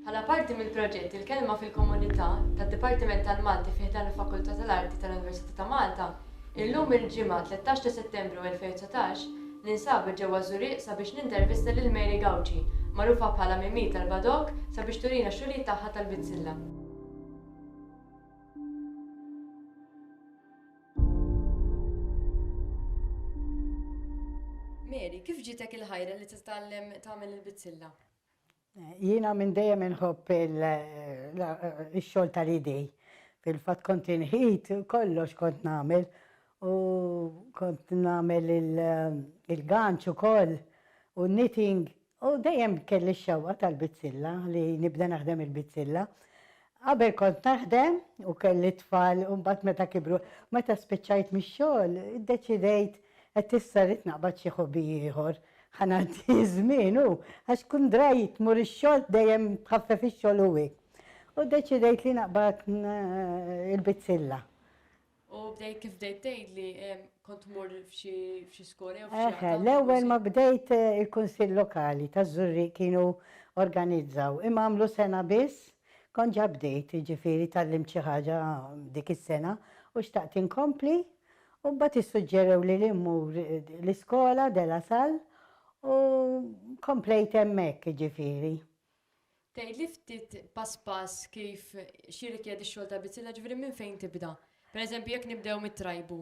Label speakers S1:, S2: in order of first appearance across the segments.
S1: Bħala parti mill-proġett Il-Kelma fil-Komunità tad-Dipartiment tal-Malti fi ħdan il-Fakultà tal-Arti tal-Università ta' Malta, illum il-Ġimgħa 13 ta' Settembru 2019 ninsabu ġewwa Żurieq sabiex nintervista lil Mary Gauci, magħrufa bħala Mimì tal-Badok sabiex turina x-xogħlijiet tagħha tal-bizzilla. Mary, kif ġietek il-ħajra li titgħallem tagħmel il-bizzilla?
S2: Jiena minn dejjem inħobb ix-xogħol tal-idej. Fil-fatt kont inħid kollox kont nagħmel u kont nagħmel il-ganċ ukoll u knitting U dejjem kelli x-xewqa tal-bizzilla, li nibda naħdem il-bizzilla. Qabel kont naħdem u kelli t-tfal u mbagħad meta kibru. Meta spiċċajt mix-xogħol, iddeċidejt qed issa rrid naqbad xi hobby ieħor. Ħa ngħaddi ż-żmien u, għax tkun dry tmur ix-xogħol dejjem tħaffef ix-xogħol u hekk. U ddeċidejt li naqbad il-bizzilla.
S1: U bdejt kif bdejt tgħidli kont tmur f'xi f'xi skola jew f'xi Eħe, l-ewwel ma bdejt
S2: il-Kunsill Lokali taż-Żurrieq kienu organizzaw, imma għamlu sena biss, kont ġa bdejt, jiġifieri tgħallimt xi ħaġa dik is-sena u xtaqt inkompli u mbagħad issuġġerewli li mmur l-iskola De La Salle u komplejt hemmhekk, jiġifieri. Tgħidli
S1: ftit pass pass kif, x'jirrikjedi x-xogħol ta' bizzilla, ġifieri minn fejn tibda? Per eżempju jekk nibdew mit-trajbu.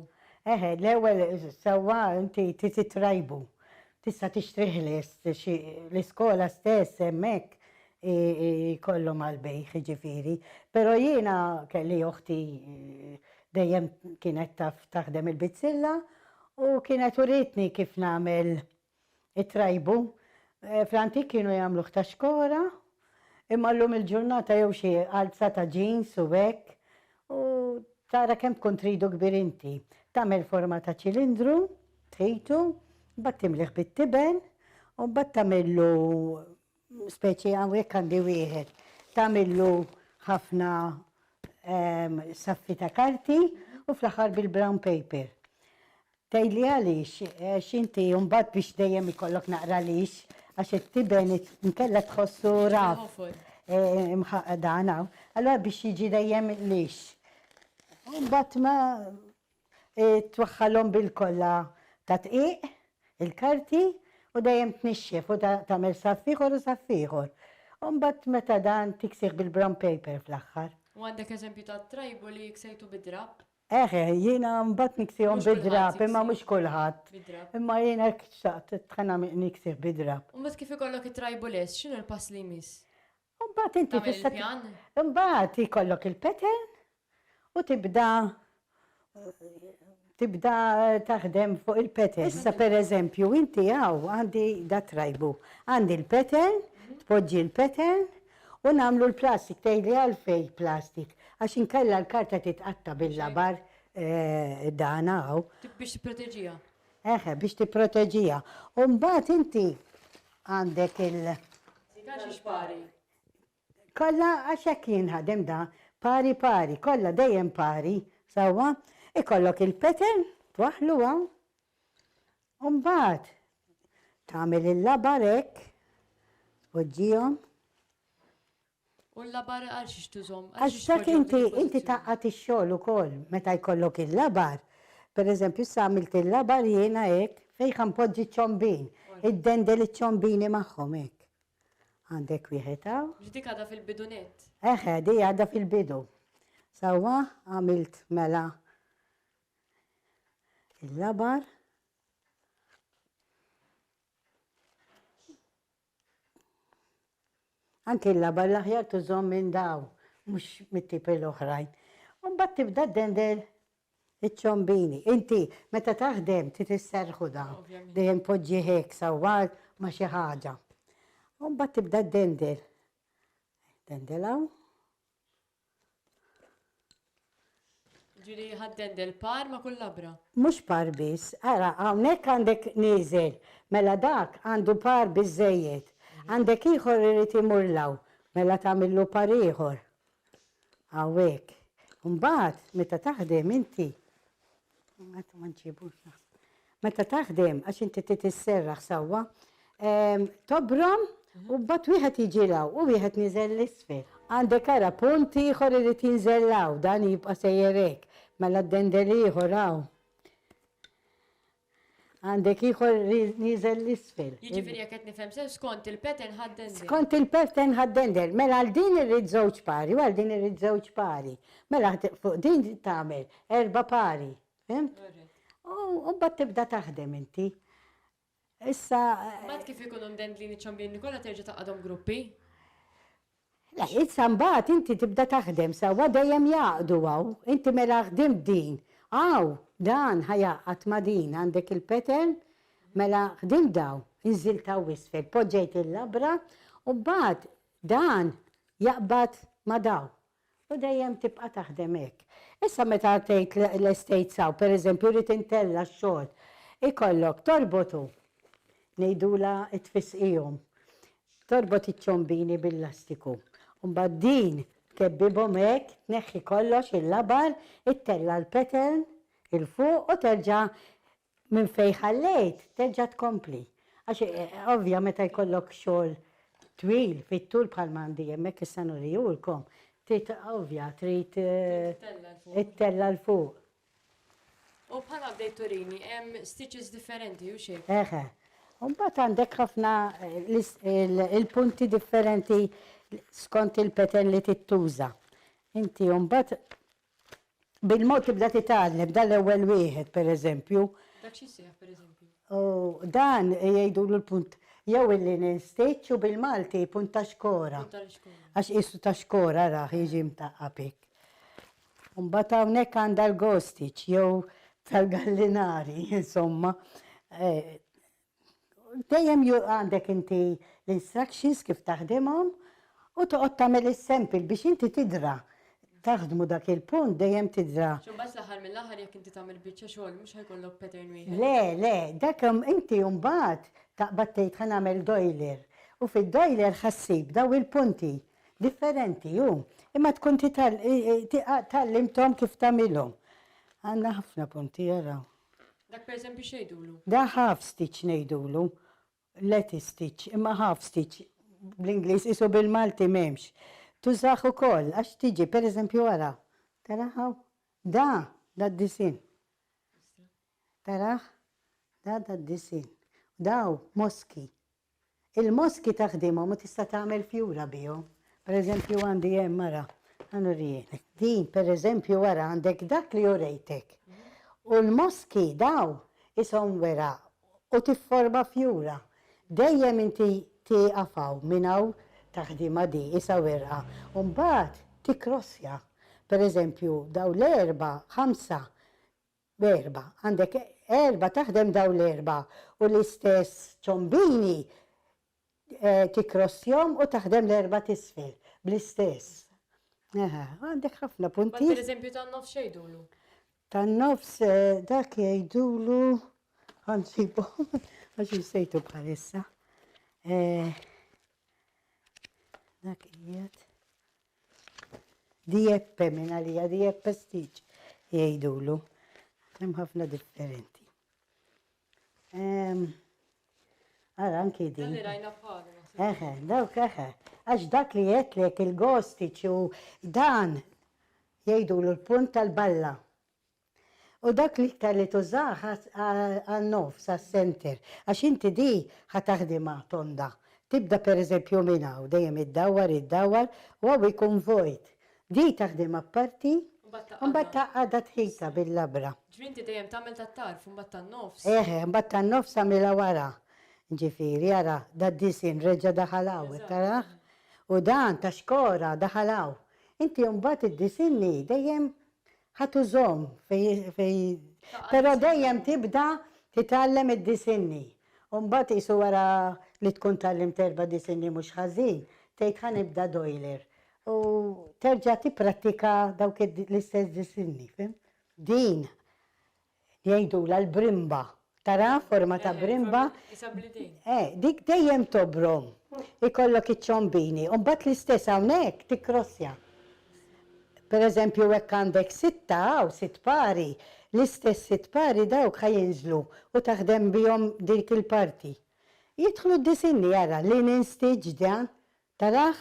S1: Eħe, l-ewwel
S2: sewwa inti trid it-trajbu. Tista' tixtri ħles, xi, l-iskola stess hemm hekk jkollhom għall-bejgħ jiġifieri. Però jiena kelli oħti dejjem kienet taf taħdem il-bizzilla u kienet uritni kif nagħmel It-trajbu, fl-antik kienu jagħmluh ta' xkora, imma llum il-ġurnata jew xi għalza ta' ġins u hekk, u tara kemm tkun tridu kbir inti. Tagħmel forma ta' ċilindru, tħitu, mbagħad timlih bit-tiben, u mbagħad tagħmillu speċi hawnhekk għandi wieħed, tagħmillu ħafna saffi ta' karti u fl-aħħar bil-brown paper. Tgħidli għaliex? Għax inti mbagħad biex dejjem ikollok naqra lix, għax it-tiben inkella tħossu raf. Imħaqqaq dan hawn. Allura biex jiġi dejjem lix. U mbagħad ma twaħħalhom bil-kolla ta' dqiq, il-karti, u dejjem tnixxef u tagħmel saff ieħor u saff ieħor. U mbagħad meta dan tiksih bil-brown paper fl-aħħar. U għandek eżempju ta'
S1: trajbu li ksejtu bid-drapp? Eħ eħ, jiena
S2: mbagħad niksihom bid-drapp, imma mhux kulħadd. Imma jiena hekk xtaqt, tħanna niksih bid-drapp. U mbagħad kif ikollok
S1: it-tribuless, x'inhu l-pass li jmiss? U mbagħad inti
S2: tista'. Tagħmel il-pjan? Imbagħad ikollok il-pattern u tibda tibda taħdem fuq il-pattern. Issa pereżempju inti hawn għandi dat-tribal. Għandi l-pattern, tpoġġi l-pattern U nagħmlu l-plastik, tgħidli għalfejn plastik? Għax inkella l-karta titqatta' bil-labar dan hawn. Biex
S1: tipproteġiha. Eħe, biex
S2: tipproteġiha. U mbagħad inti għandek il. Tagħtix
S1: pari.
S2: Kollha għax hekk jinħadem dan, pari pari, kollha dejjem pari, sewwa? Ikollok il-pattern, twaħħlu hawn. U mbagħad tagħmel il-labar hekk, tpoġġihom.
S1: U l-labar għal xiex tużhom? Għax dak inti,
S2: inti tgħaqqad ix-xogħol ukoll meta jkollok il-labar. Pereżempju issa għamilt il-labar jiena hekk, fejn ħa npoġġi ċ-ċombin, iddendel iċ-ċombini magħhom hekk. Għandek wieħed hawn. Mhux dik għadha fil-bidu
S1: nett? Eħe, di għadha
S2: fil-bidu. Sewwa, għamilt mela il-labar, anki l-labar l-aħjar tużhom minn dawn, mhux mit-tipi l-oħrajn. U mbagħad tibda ddendel iċ-ċombini. Inti meta taħdem trid isserħu dan, dejjem poġġi hekk sawwar ma' xi ħaġa. U mbagħad tibda ddendel. Dendel hawn.
S1: Ġieli jħadden del-par ma' kull labra. Mhux par biss,
S2: ara hawnhekk għandek nieżel, mela dak għandu par biżżejjed. Għandek ieħor irid imur 'l hawn, mela tagħmillu par ieħor. Hawn hekk. Imbagħad meta taħdem inti. Għatu ma nġibux naħseb. Meta taħdem, għax inti titisserraħ sawwa, tobrom u bat wieħed jiġilaw u wieħed niżel l-isfel. Għandek ara punt ieħor irid jinżellaw dan jibqa' sejjerek. Mela d-dendel ieħor hawn. Għandek ieħor li nieżel l-isfel. Jiġifieri jekk qed nifhem
S1: sew skont il-pattern ħaddendel. Skont il-pattern
S2: ħaddendel. Mela għal din irrid żewġ pari u għal din irrid żewġ pari. Mela fuq din tagħmel erba' pari. Fhimt? U mbagħad tibda taħdem inti. Issa. Mbagħad kif
S1: ikunu mdendlin iċ-ċambini kollha terġa' taqgħadhom gruppi?
S2: Le, issa mbagħad inti tibda taħdem sewwa dejjem jgħaqqdu hawn. Inti mela ħdimt din, hawn, dan ħa jgħaqqad ma' din, għandek il-pattern, mela ħdimt dawn, inżilt hawn isfel, poġġejt il-labra u mbagħad dan jaqbad ma' dawn. U dejjem tibqa' taħdem hekk. Issa meta tgħid l-estate saw, pereżempju rrid intella' x-xogħol, ikollok torbotu, ngħidulha t-tfisqihom, torbot iċ-ċombini bil-lastiku, u mbagħad din tkebbibhom hekk, tneħħi kollox, il-labar, ittella' l-pattern 'il fuq u terġa' Minn fejn ħallejt terġa' tkompli. Għax ovvja meta jkollok xogħol twil fit-tul bħalma għandi hemmhekk issa nurihulkom, trid ovvja trid ittella' 'l fuq.
S1: U bħalma bdejt turini hemm stitches differenti u xejn. Eħe. U
S2: mbagħad għandek ħafna il-punti differenti skont il-pattern li trid tuża. Inti mbagħad Bil-mod tibda titgħallem, dan l-ewwel wieħed, pereżempju. Dak xi
S1: jsejjaħ pereżempju? Dan
S2: jgħidulu l-punt jew il-linen stitch u bil-Malti punt ta' xkora. Punt ta' xkora. Għax qisu ta' xkora rah jiġi mtaqqab hekk. Mbagħad hawnhekk għandha l-ghost stitch jew tal-gallinari, insomma. Dejjem jurq għandek inti l-instructions kif taħdimhom u toqgħod tagħmel is-sample biex inti tidra taħdmu dak il-punt dejjem tidra. Għax imbagħad fl-aħħar mill-aħħar
S1: jekk inti tagħmel biċċa xogħol mhux ħa jkollok pattern wieħed. Le, le, dak
S2: hemm inti imbagħad taqbad tgħid ħa nagħmel doiler u fid-doiler ħa ssib dawn il-punti differenti u imma tkun titgħallimthom kif tagħmilhom. Għandna ħafna punti ara. Dak per
S1: eżempju x'ngħidulu? Dak half stitch
S2: ngħidulu. Letty stitch, imma half stitch bl-Ingliż qisu bil-Malti m'hemmx. Tużah ukoll għax tiġi, per eżempju ara, tara hawn? Da, da d-disinn. Tarah? Da, da d-disinn. Daw, moski. Il-moski ta' ħdimhom u tista' tagħmel fjura bihom. Per eżempju għandi hemm ara, ħa nurihielek. Din per eżempju ara għandek dak li urejtek. U l-moski dawn ishom weraq u tifforma fjura. Dejjem inti tieqaf hawn minn hawn ta' ħdima di isha werqa u mbagħad tikkrossja. Per eżempju dawn l-erbgħa, ħamsa Erba', għandek erba' taħdem dawn l-erba' u l-istess ċombini tikkrossjhom u taħdem l-erba' t'isfel bl-istess. Aha, għandek ħafna punti. Mbagħad pereżempju tan-nofs x'jgħidulu?
S1: Tan-nofs
S2: dak jgħidulu ħa nsibu għax insejtu bħalissa. Dak qiegħed. Dieppe minn għalija dieppe stiċ jgħidulu. Hemm ħafna differenti. Ara anki din. Li rajna
S1: bħalu. Eħe, dawk eħe.
S2: Għax dak li jetlek il-gostiċ u dan jgħidulu l-punt tal-balla. U dak l-iktar li tużah għan-nofs, għas-center, għax inti di ħa taħdimha tonda. Tibda per eżempju minn hawn, dejjem iddawwar, iddawwar, u hawn ikun vojt. Di taħdimha b'parti, u mbagħad tgħaqqadha tħita bil-labra. Ġifieri inti dejjem tagħmel
S1: tat-tarf u mbagħad tan-nofs? Eħ, mbagħad tan-nofs
S2: agħmilha wara. Ġifieri ara, da d-disinn reġa' daħal hawn, tarah? U dan ta' xkora daħal hawn. Inti mbagħad iddisinnhi dejjem Ħa tużhom fej Però dejjem tibda titgħallem id-disinni. U mbagħad qisu wara li tkun tgħallimt erba' disinni mhux ħażin, tgħid ħa nibda doiler. U terġa' tipprattika dawk l-istess disinni, fhimt? Din Jgħidulha l-brimba. Tara forma ta' brimba? Isha bl-idejn. Eh, dik dejjem tobrom. Ikollok iċ-ċombini u mbagħad l-istess hawnhekk tikkrossja. Per eżempju hekk għandek sitta hawn, sitt pari, l-istess sitt pari dawk ħa jinżlu u taħdem bihom dik il-parti. Jidħlu d-disinni, ara, linen stitch dan, Tarah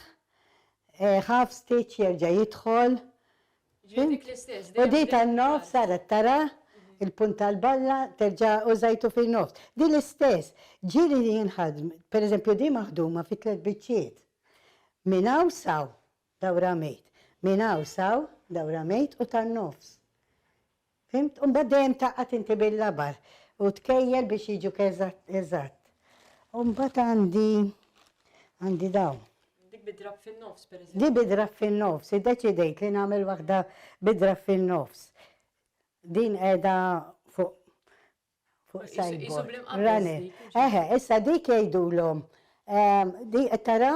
S2: ħaf ftit jerġa' jidħol. Ġifieri dik
S1: l-istess, dejjem. U di tan-nofs
S2: saret tara l-punt tal-balla terġa' użajtu fin-nofs. Di l-istess. Ġieli li jinħadm, per eżempju di maħduma fi tliet biċċiet. Minn hawn s'hawn, dawra mejt. Minn hawn s'hawn, dawra mejt u tan-nofs. Fhimt? U mbagħad dejjem taqgħad inti bil-labar u tkejjel biex jiġuk eżatt, eżatt. U mbagħad għandi, għandi dawn. Dik bid-drapp
S1: fin-nofs, pereżempju. Di bid-drapp fin-nofs,
S2: iddeċidejt li nagħmel waħda bid-drapp fin-nofs. Din qiegħda fuq Fuq sideboard. Rane. Eħe, issa dik jgħidulhom di qed tara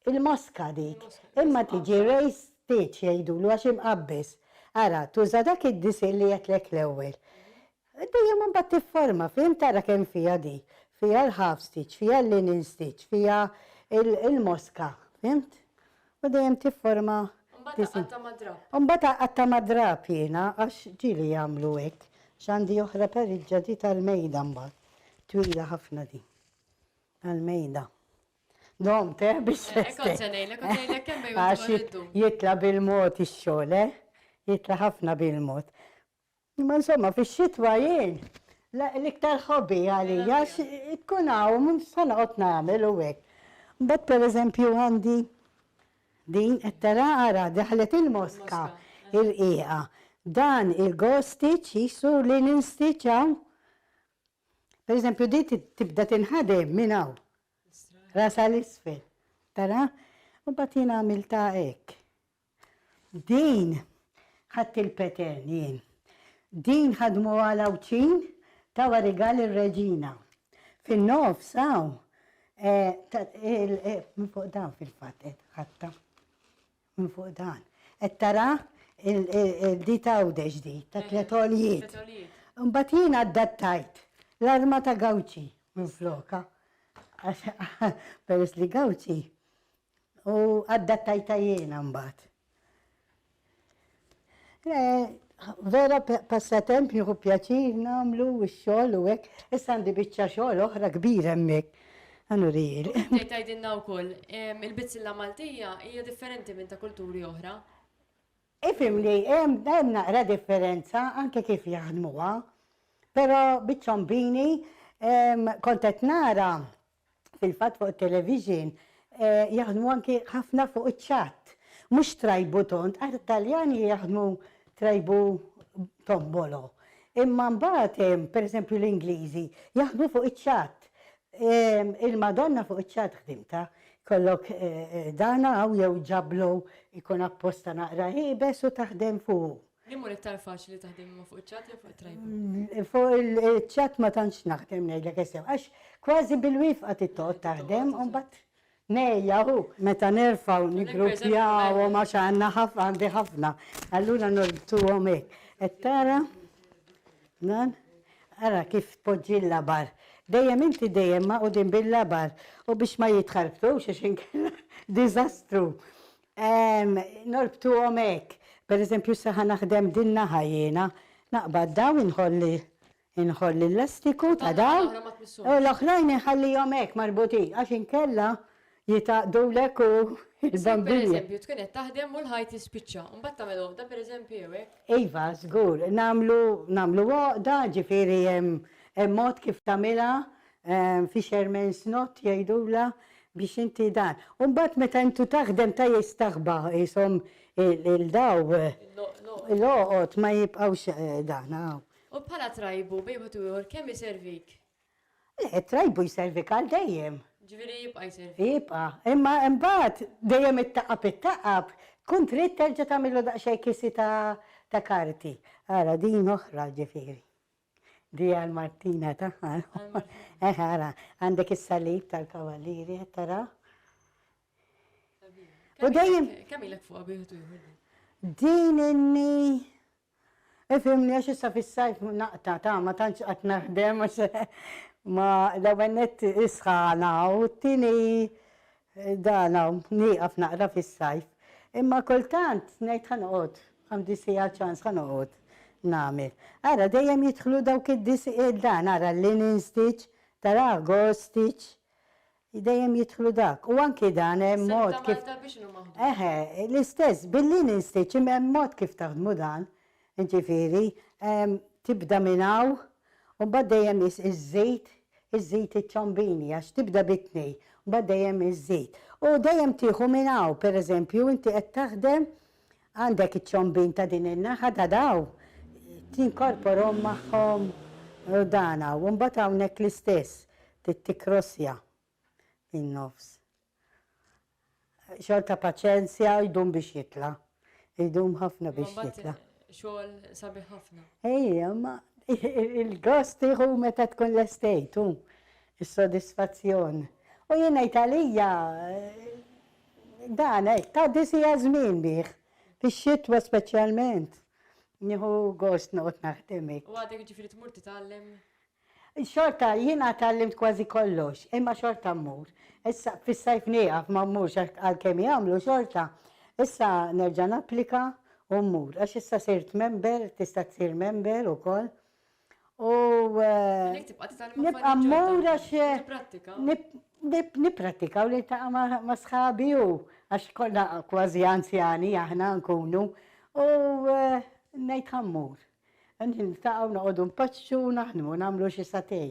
S2: il-moska dik. Imma tiġi raised pitch jgħidulu għax imqabbes. Ara, tuża dak id-disinn li għedtlek l-ewwel. Dejjem imbagħad tifforma, fhimt ara kemm fiha di. Fiha l-half stitch, fiha l-linen stitch, fiha il-moska, fhimt? U dejjem tifforma Mbagħad aqatta'
S1: mad-drapp. U mbagħad aqatta'
S2: mad-drapp jiena għax ġieli jagħmlu hekk. X'għandi oħra pariġġa di tal-mejda mbagħad. Twila ħafna din. Tal-mejda. Domt eh biex se. Hekk kont se ngħidlek, kont se
S1: ngħidlek kemm ejja tieħu l-iddum. Għax jitla'
S2: bil-mod ix-xogħol eh. Jitla' ħafna bil-mod. Imma insomma fix-xitwa jien l-iktar hobby għalija tkun hawn se noqgħod nagħmel u hekk. Imbagħad pereżempju għandi din qed tara ara daħlet il-moska rqiqa. Dan il-gostiċ qisu li ninstiċ hawn. Pereżempju din tibda tinħadem minn hawn. Rasha 'l isfel. Tara? U mbagħad jien għamiltha hekk. Din ħadt il-petern jien. Din ħadmuha l-Għawdxin tawha rigal ir-Reġina. Fin-nofs hawn minn fuq dan fil-fatt qed ħadtha. Minn fuq dan. Qed tara di ta' Għawdex di, ta' tliet għoljiet. Imbagħad jien adattajt l-arma ta' Gawċi minflokha. Għax peress li Gawċi U addattajtha jiena mbagħad. Vera passatemp nieħu pjaċir nagħmlu u x-xogħol u hekk. Issa għandi biċċa xogħol oħra kbira hemmhekk. Anurijieli. Inti tgħidilna wkoll,
S1: il-bizzilla Maltija hija differenti minn ta' kulturi oħra.
S2: Ifhimni, hemm naqra differenza anke kif jaħdmuha, però biċ-ċombini kont qed nara fil-fatt fuq it-television jaħdmu anki ħafna fuq iċ-ċatt. Mhux trajbu tond, għax it-Taljani jaħdmu trajbu tombolo. Imma mbagħad hemm, pereżempju l-Ingliżi, jaħdmu fuq iċ-ċatt. Il-Madonna fuq iċ-ċatt ħdimtha. Jkollok dan hawn jew ġablu jkun apposta naqra iebes u taħdem fuqu.
S1: Jien mur iktar faċli taħdem imma fuq iċ-chat jew fuq it-tripod? Fuq
S2: il-chat ma tantx naħdem ngħidlek is-sew għax kważi bil-wifqa tittoqgħod taħdem u mbagħad ngħejja u meta nerfa' u niggruppjawhom għax għandna għandi ħafna allura norbtuhom hekk. Qed tara? Dan? Ara kif tpoġġi l-labar. Dejjem inti dejjem magħqudin bil-labar u biex ma jitħarbtux għax inkella diżastru. Norbtuhom hekk. Per eżempju issa ħa naħdem din naħa jiena. Naqbad dawn inħolli inħolli l-lastiku ta' dawn u l-oħrajn inħallihom hekk marbutin għax inkella jitgħaqqdulek u l-bambini. Issir per eżempju tkun qed taħdem
S1: u l-ħajt jispiċċa u mbagħad tagħmel għoqda per eżempju jew hekk? Iva, żgur.
S2: Nagħmlu nagħmlu għoqda, ġifieri hemm mod kif tagħmilha Fisherman's knot jgħidulha biex inti dan. U mbagħad meta intu taħdem ta' jistaħba qishom il-daw l-għoqod ma jibqgħux dan hawn. U bħala
S1: trajbu bejn wieħed u ieħor kemm iservik? Le,
S2: it-trajbu jservik għal dejjem. Ġifieri jibqa'
S1: jservik. Jibqa'. Imma
S2: mbagħad dejjem ittaqab ittaqab tkun trid terġa' tagħmillu daqsxejn kisi ta' karti. Ara din oħra ġifieri. Di għal Martina tagħha. Eh ara, għandek is-salib tal-Kavalieri qed tara? U dejjem. Kemm ilek fuq bieħed
S1: ieħor? Din
S2: inni Ifimni għax issa fis-sajf naqta ta' ma tantx qatt naħdem għax ma l-ewwel nett isħana u t-tieni Dan hawn nieqaf naqra fis-sajf. Imma kultant ngħid ħa noqgħod, għandi siegħa ċans ħa noqgħod nagħmel. Ara dejjem jidħlu dawk id-dis dan ara linen stitch, tarah gauze stitch, dejjem jidħlu dak. U anki dan hemm mod kif. Is-sewda mal-darbi x'inhu
S1: maħdum? Eħe, l-istess
S2: bil-linen stitch imma hemm mod kif taħdmu dan. Jiġifieri, tibda minn hawn U mbagħad dejjem is iż-żejt, iż-żejt iċ-ċambini għax tibda bit-tnej, mbagħad dejjem iż-żejt. U dejjem tieħu minn hawn, pereżempju inti qed taħdem għandek iċ-ċambin ta' din in-naħa ta' dawn, tinkorporhom magħhom u dan hawn. U mbagħad hawnhekk l-istess, tikrossja fin-nofs. Xogħol ta' paċenzja jdum biex jitla'. Jdum ħafna biex jitla'. Xogħol
S1: sabiħ ħafna. Ejja, ma
S2: il-gost tieħu meta tkun lestejt u s-sodisfazzjon. U jien ngħid għalija dan hekk tgħaddi siegħa żmien bih. Fix-xitwa speċjalment. Nieħu gost noqgħod naħdem hekk. U għadek jiġifieri tmur
S1: titgħallem? Xorta,
S2: jiena tgħallimt kważi kollox, imma xorta mmur. Issa, fis-sajf nieqaf, ma mmurx għalkemm jagħmlu xorta. Issa nerġa' napplika u mmur, għax issa sirt member, tista' ssir member ukoll. U. Għalhekk tibqa' titgħallem affarijiet ġodda. Nibqa' mmur għax. U tipprattika. Nipprattika u niltaqa' ma' sħabi u għax kollha kważi anzjani aħna nkunu. U ngħid ħa mmur. Niltaqgħu, noqogħdu npaċċu, naħdmu, nagħmlu xi satè.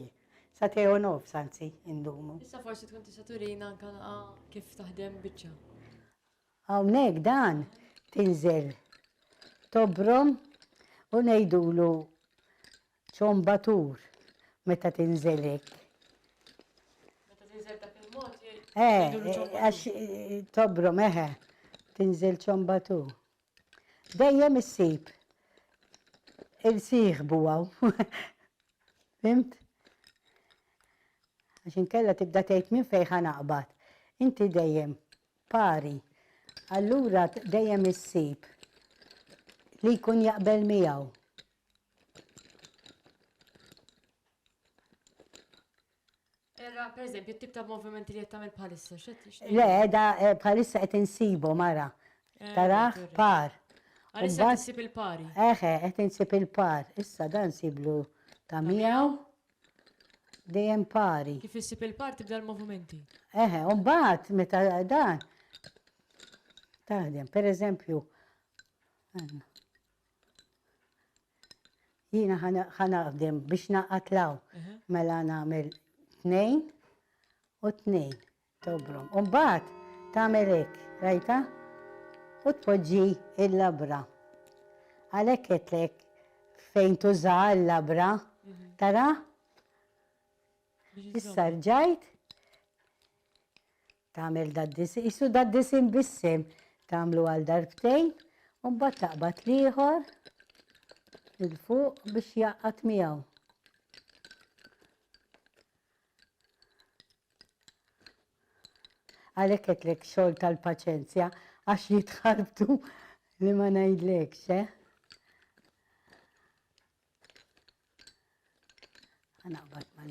S2: Satè u nofs anzi indumu. Issa forsi tkun tista'
S1: turina anke kif taħdem biċċa.
S2: Hawnhekk dan tinżel tobrom u ngħidulu ċombatur meta tinżel hekk. Meta
S1: tinżel dak il-mod jgħidulu ċombatur. Għax
S2: tobrom eħe, tinżel ċombatur. Dejjem issib il-sieħbu hawn. Fhimt? Għax inkella tibda tgħid minn fejn ħa naqbad. Inti dejjem pari. Allura dejjem issib li jkun jaqbel miegħu.
S1: Era, per eżempju, t-tip ta' movimenti li qed tagħmel bħalissa, x'qed tixtieq? Le, da eh,
S2: bħalissa qed insibu mara. Eh, Taraħ veri. par. Għalissa Imbagħad- qed issib
S1: il-pari. Eħe, qed insib
S2: il-par. Issa dan siblu ta' miegħu. Dejjem pari. Kif issib il-par tibda
S1: l-movimenti. Eħe, u mbagħad
S2: meta dan taħdem, per eżempju, għandna. Jiena ħanaħdem biex naqat law. Mela nagħmel tnejn u tnejn tobrom. U mbagħad tagħmel hekk, rajta? U tpoġġi il-labra. Għalhekk qedlek fejn tuża l-labra, tara? Issa rġajt Tagħmel daddis, qisu daddisien bis-sehem. Tagħmlu għal darbtejn u mbagħad taqbad l-ieħor 'il fuq biex jgħaqqad miegħu. Għalhekk qedtlek xogħol tal-paċenzja għax jitħarbtu li ma ngħidlekx, eh? Ħanaqbad ma'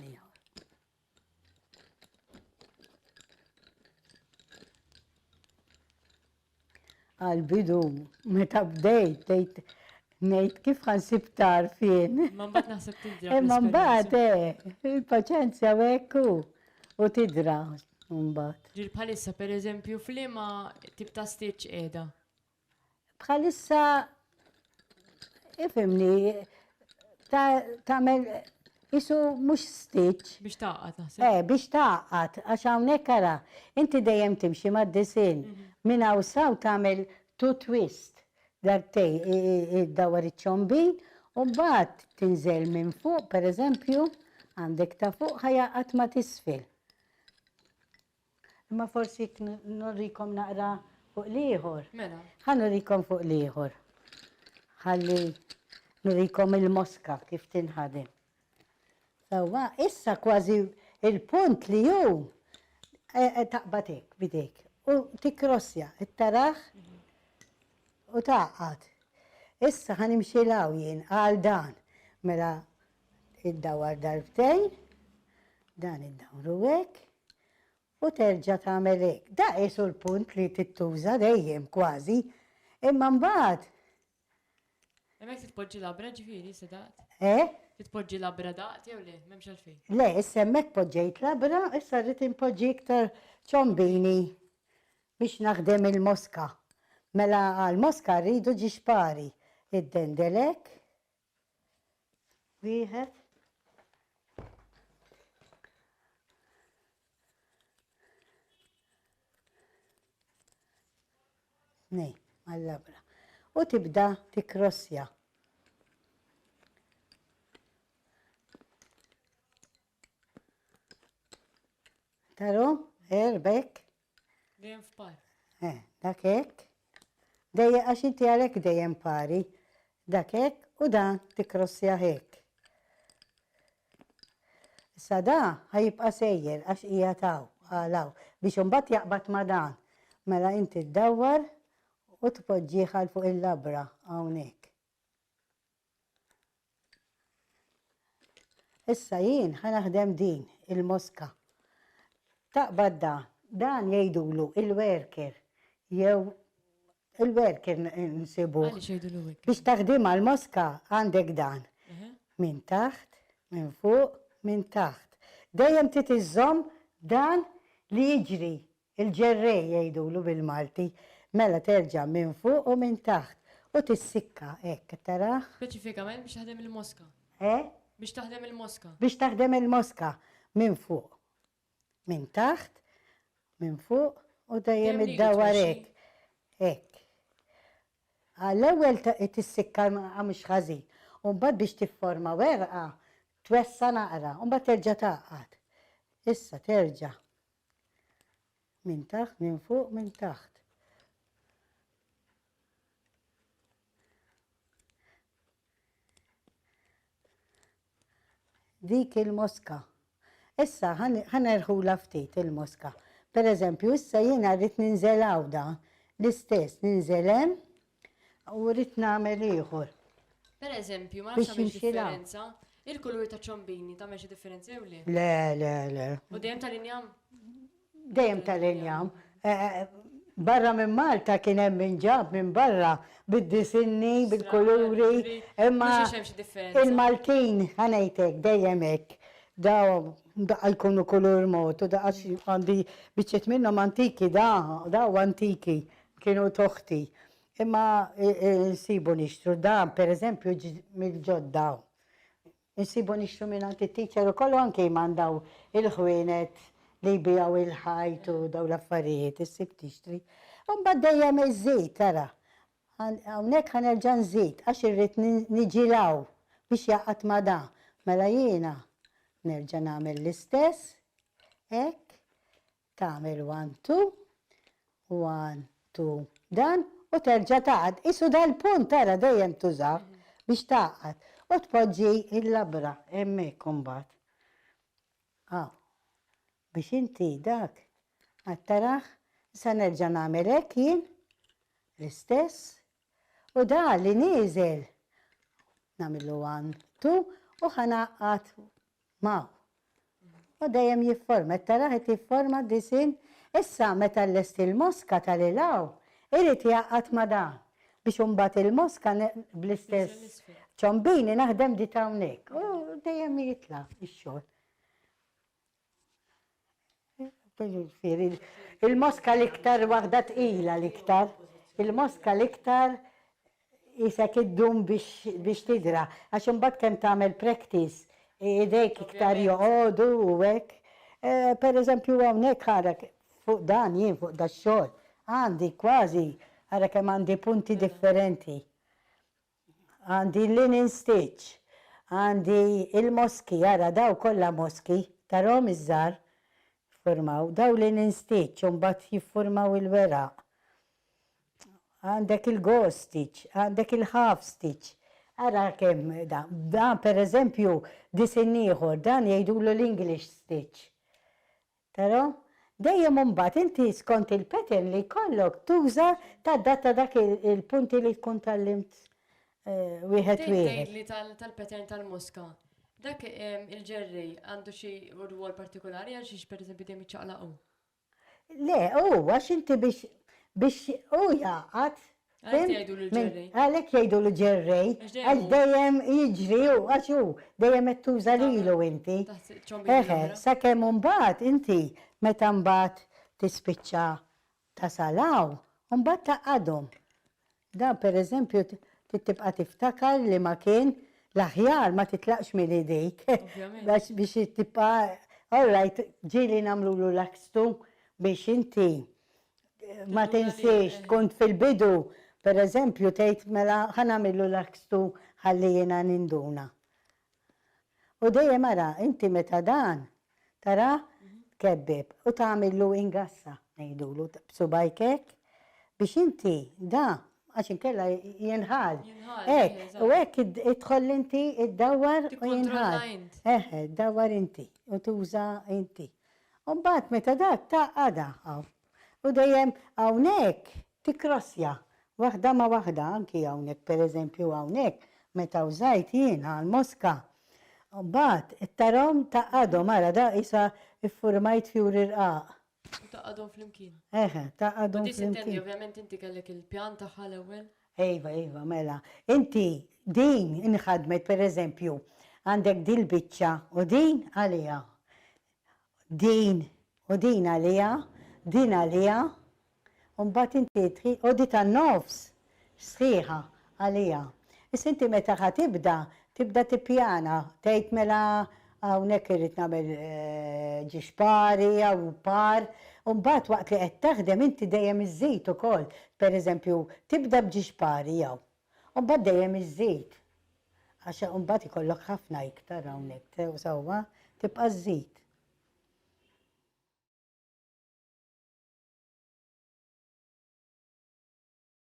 S2: għal-bidu, meta bdejt, tgħid ngħid kif ħansib tarfien. Ma mbagħad naħseb
S1: tidra. Eh, ma mbagħad eh,
S2: il-paċenzja wekku u tidra mbagħad. Ġir bħalissa
S1: pereżempju flima tip ta' stitch qiegħda.
S2: Bħalissa ifimni ta' tagħmel isu mhux stitch. Biex taqgħad naħseb.
S1: Eh, biex taqgħad
S2: għax hawnhekk ara, inti dejjem timxi mad-disinn minn hawn saw tagħmel two twist darbtej iddawwar iċ-ċombin u mbagħad tinżel minn fuq pereżempju għandek ta' fuq ħa jaqgħad ma' t'isfel. Imma forsi jekk n- nurikom naqra fuq l-ieħor. Mela. Ħa nurikom
S1: fuq
S2: l-ieħor. Ħalli nurikom il-moska kif tinħadem. Sewwa, issa kważi il-punt li hu eh, eh, taqbad hekk bidejk u tikrossja it-taraħ u taqgħad. Issa ħa nimxi law jien għal dan. Mela Iddawwar darbtejn, dan iddawru hekk, u terġa' tagħmel hekk. Da qisu l-punt li tittuża dejjem kważi, imma mbagħad. Hemmhekk
S1: trid tpoġġi labra ġifieri issa daqt? Eh? Trid tpoġġi
S2: labra
S1: daqt jew le? M'hemmx għalfejn. Le, issa hemmhekk
S2: poġġejt labra, issa rrid inpoġġi iktar ċombini biex naħdem il-moska. Mela għall-moska rridu ġixpari. Iddendel hekk, Wieħed. Nej, għall-labra. U tibda tikrossja. Taru, erbek, Dejjem
S1: f'pari. Eh, dak
S2: hekk. Dejjem għax inti għalhekk dejjem pari. Dak hekk u dan tikkrossjah hekk. Issa da ħajibqa' sejjer għax hija taw għalaw biex imbagħad jaqbad ma' dan. Mela inti ddawwar u tpoġġih għal fuq il-labra hawnhekk. Issa jien ħa naħdem din il-moska. Taqbad dan? Dan jgħidulu il-werker jew il-werker nsibuh. Għaliex jgħidulu hekk? Biex
S1: taħdimha l-moska
S2: għandek dan. Minn taħt, minn fuq, minn taħt. Dejjem trid iżżomm dan li jiġri Il-ġerrej jgħidulu bil-Malti. Mela terġa' minn fuq u minn taħt u tissikka hekk, qed tarah? Speċifikament biex taħdem
S1: il-moska. Eh? Biex taħdem il-moska. Biex taħdem il-moska.
S2: Minn fuq. Minn taħt. Minn fuq. U dejjem iddawwar hekk. Hekk. L-ewwel tissikka mhux ħażin. U mbagħad biex tifforma werqa twessa' naqra u mbagħad terġa' tgħaqqad. Issa terġa' Minn taħt, minn fuq, minn taħt. Dik il-moska. Issa, ħanerħula ftit il-moska. Per eżempju, issa jiena rrit ninżel għawda. L-istess, ninżelem, U rrid nagħmel ieħor. Per eżempju,
S1: ma nafx għamilx differenza, il-kulur ta' ċombini ta' meċi differenza jew le? Le, le, le. U dejjem
S2: tal-injam?
S1: Dejjem
S2: tal-injam. Eh, eh, barra minn Malta kien hemm minn ġab minn barra bid-disinni, bil-kuluri, imma il-Maltin ħanejtek dejjem hekk. Daw daqqa jkunu kulur mod u daqqa għandi biċċet minnhom antiki da, daw antiki. Kienu toħti. Imma insibu nixtru dan, per eżempju, mill-ġodda hawn. Insibu nixtru mingħand it-teacher ukoll u anke jman dawn il-ħwienet li jbigħu l-ħajt u dawn l-affarijiet, issib tixtri. U mbagħad dejjem iżżid, ara. Hawnhekk ħa nerġa' nżid għax irrid niġi 'l hawn biex jaqgħad ma' da. Mela jiena nerġa' nagħmel l-istess, hekk, Tagħmel one two, one two dan u terġa' tagħqad. Qisu dal-punt ara dejjem tużah biex tagħqad u tpoġġi l-labra hemmhekk imbagħad. Hawn. Biex inti dak, qed tarah? Issa nerġa' nagħmel hekk jien, l-istess, u da li nieżel nagħmillu one two u ħa ngħaqqad Magħ. U dejjem jifforma, qed tarah qed jifforma disinn. Issa meta llesti l-moska ta' lil hawn, irid jgħaqqad ma' dan biex imbagħad il-moska bl-istess ċombini naħdem di t'hawnhekk. U dejjem jitla' x-xogħol. Il-moska l-iktar waħda tqila l-iktar. Il-moska l-iktar isek id-dum biex tidra. Għax imbagħad kemm tagħmel practice, idejk iktar joqogħdu u hekk. Eh, per eżempju hawnhekk ara fuq dan jien fuq dax-xogħol għandi kważi ara kemm għandi punti differenti. Għandi l-linen stitch, għandi il-moski, ara daw kollha moski, tarahom iż-żgħar? Jiffurmaw, daw linen stitch u mbagħad jiffurmaw il-weraq. Għandek il-gauze stitch, għandek il-half stitch. Ara kemm dan. Dan pereżempju disinn ieħor, dan jgħidulu l-English stitch. Però, dejjem imbagħad inti skont il-pattern li jkollok tuża tadatta dak il-punti li tkun tgħallimt wieħed Tgħin wieħed. tgħidli tal tal-pattern
S1: tal-moska, dak il-ġerrej għandu xi rwol partikolari għal xiex pereżempju dejjem jiċċaqlaq hu?
S2: Le, hu għax inti
S1: biex
S2: biex hu jgħaqqad Għalhekk
S1: jgħidulu ġerrej. Għalhekk jgħidulu
S2: ġerrej. Għax dejjem
S1: jiġri
S2: hu, għax hu dejjem qed tuża lilu inti. Eħe,
S1: sakemm imbagħad
S2: inti meta mbagħad tispiċċa tasal hawn, imbagħad tgħaqqadhom. Dan pereżempju trid tibqa' tiftakar li ma kien l-aħjar ma titlaqx minn idejk. Għax biex
S1: tibqa'
S2: all right, ġieli nagħmlulu lakstu biex inti Ma tinsiex, kont fil-bidu, per eżempju, tgħid mela ħa nagħmillu l-akstu ħalli jiena ninduna. U dejjem ara, inti meta dan tarah tkebbib u tagħmillu ingassa, ngħidulu, b'subgħajk hekk, biex inti da, għax inkella jinħall. Hekk, u hekk idħol inti iddawwar u jinħall. Tikkontrolla int. Eħe, iddawwar inti u tuża inti. U mbagħad meta dak ta' għada hawn. U dejjem hawnhekk tikkrossja waħda ma' waħda anki hawnhekk pereżempju hawnhekk meta wżajt jien għall-moska. U mbagħad tarahom ta' għadhom ara da qisha ffurmajt fjuri rqaq. U ta' għadhom
S1: flimkien. Eħe, ta' għadhom
S2: flimkien. U di s'intendi ovvjament
S1: inti kellek il-pjan tagħha l-ewwel? Iva, iva, mela.
S2: Inti din inħadmet pereżempju għandek dil-biċċa u din għaliha. Din u din għaliha, din għaliha, u mbagħad inti trid u di tan-nofs sħiħa għaliha. Issa inti meta ħa tibda, tibda tippjana, tgħid mela Hawnhekk irrid nagħmel ġiex pari jew par, u mbagħad waqt li qed taħdem inti dejjem iżżid ukoll. Pereżempju, tibda b'ġiex pari jew, u mbagħad dejjem iżżid. Għax imbagħad ikollok ħafna iktar hawnhekk, sew sewwa, tibqa' żżid.